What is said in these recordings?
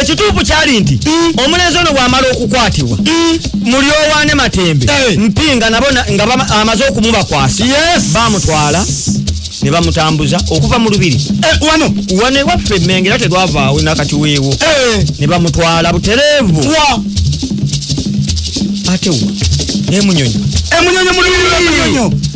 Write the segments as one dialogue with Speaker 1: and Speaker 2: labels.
Speaker 1: ekituufu kyali
Speaker 2: nti mm. omulenzi ono bwamala okukwatibwa mm. mulyowaane matembe eh. mpinga nabo nga amaze okumubakwasa bamutwala ne bamutambuza okuva mu lubiri eh, wano wano ewaffe emmenge era tegwavaawo nakati weewo eh. ne bamutwala butereevu ate wa emunyonyo emunyonyo
Speaker 1: mulubiri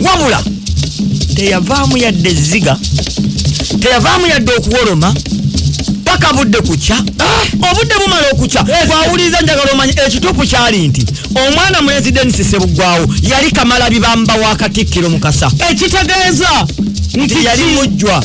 Speaker 2: wabula teyavaamu yadde ezziga teyavaamu yadde okuwoloma paka budde kukya ah! obudde bumala okukya bwawuliriza njagala omanya ekituufu kyali nti omwana mulenzi denisi sebuggwawo yali kamala bibamba wa katikkiro mukasa ekitegeeza nti yali mujjwa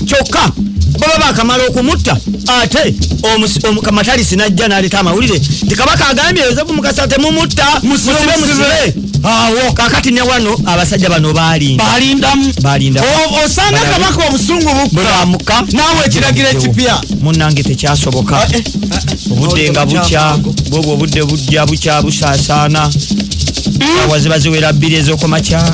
Speaker 2: kyokka baba bakamala okumutta ate omukamataliisi najja naleeta amawulire nti kabaka agambye yozefu mukasa temumutta musibe musibe awo kakati ne wano abasajja bano balindabalindamu balinda osanga
Speaker 1: kabaka obusungu bukkamuka
Speaker 2: naawe ekiragiro
Speaker 1: ekipya munange tekyasoboka
Speaker 2: ah, eh, ah, ah. obudde nga bukya bwobwo obudde bujja bukya busaasaana hmm? awa ziba ziwera bbiri ezokumakya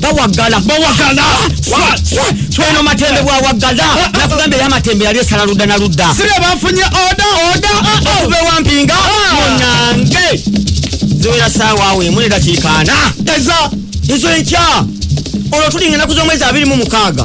Speaker 2: bawagala bawagala tweno matembe bwawagala nakugamba eyo amatembe yali esala ludda na ludda sire bafunye oda
Speaker 1: oda okuva ewampinga
Speaker 2: munange ziwera saawa awo emu nedakiikaana eza ezo enkya olwo tulinga enaku z'omwezi abiri mu mukaaga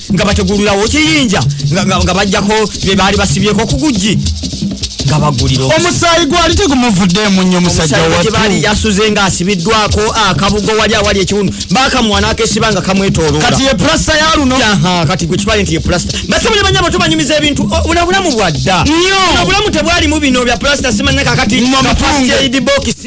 Speaker 2: nga bategulirawo kiyinja nga bajjako bye baali basibyeko ku gujji nga bagulira omusaayi gwali
Speaker 1: tegumuvuddeemu nnyo musajja watubaali yasuze nga
Speaker 2: asibiddwako akabugo wali awali ekiwundu bakamuwa n'akesiba nga kamwetoloola kati ye pulasta ya
Speaker 1: luno kati gwe kibale nti
Speaker 2: ye pulasta basebo ne banyabo tubanyumiza ebintu buno obulamu bwadda nnyo obulamu tebwalimu bino bya pulasta simanyakakati kapasityaidi bokisi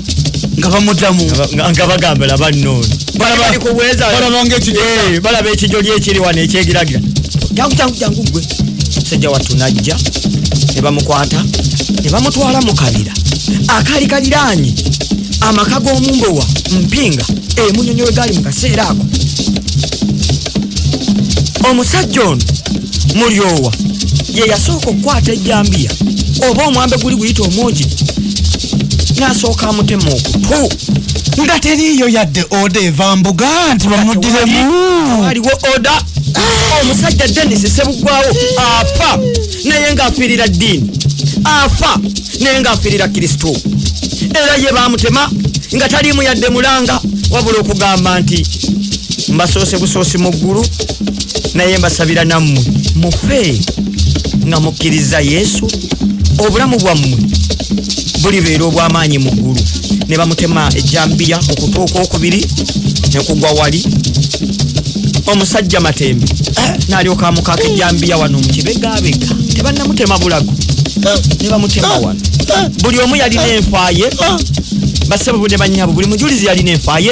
Speaker 2: nga
Speaker 1: bamuddamu nga bagamba
Speaker 2: laba nnono balaba ekijoli ekiri wano ekyegiragira jangu jangu jangu gwe musajja wattu najja ne bamukwata ne bamutwala mu kabira akaali kaliraanye amaka g'omumbowa mpinga emunyonyo we gaali mu kaseera ako omusajja ono mulyowa ye yasooka okukwata ejjambiya oba omwambe guli guyita omwogi nasooka amutema okutu nga teriiyo
Speaker 1: yadde oda eva mbuga nti bamudiremu aliwo
Speaker 2: oda ah! omusajja denis sebugwawo afa naye ngaafiirira ddiini afa naye ngaafiirira kristo era ye bamutema nga taliimu yadde mulanga wabula okugamba nti mbasoose busoosi mu ggulu naye mbasabira nammwe mufe nga mukkiriza yesu obulamu bwammwe bulibeera obw'amaanyi mu ggulu ne bamutema ejjambiya ku kutu okwokubiri ne kugwa wali omusajja matembe eh, n'alyoka amukaaka ejjambiya wano mu kibegabega tebannamutema bulago eh, ne bamutema eh, wano buli omu yalina enfaye basebo ne banyabo buli mujulizi yalina enfaye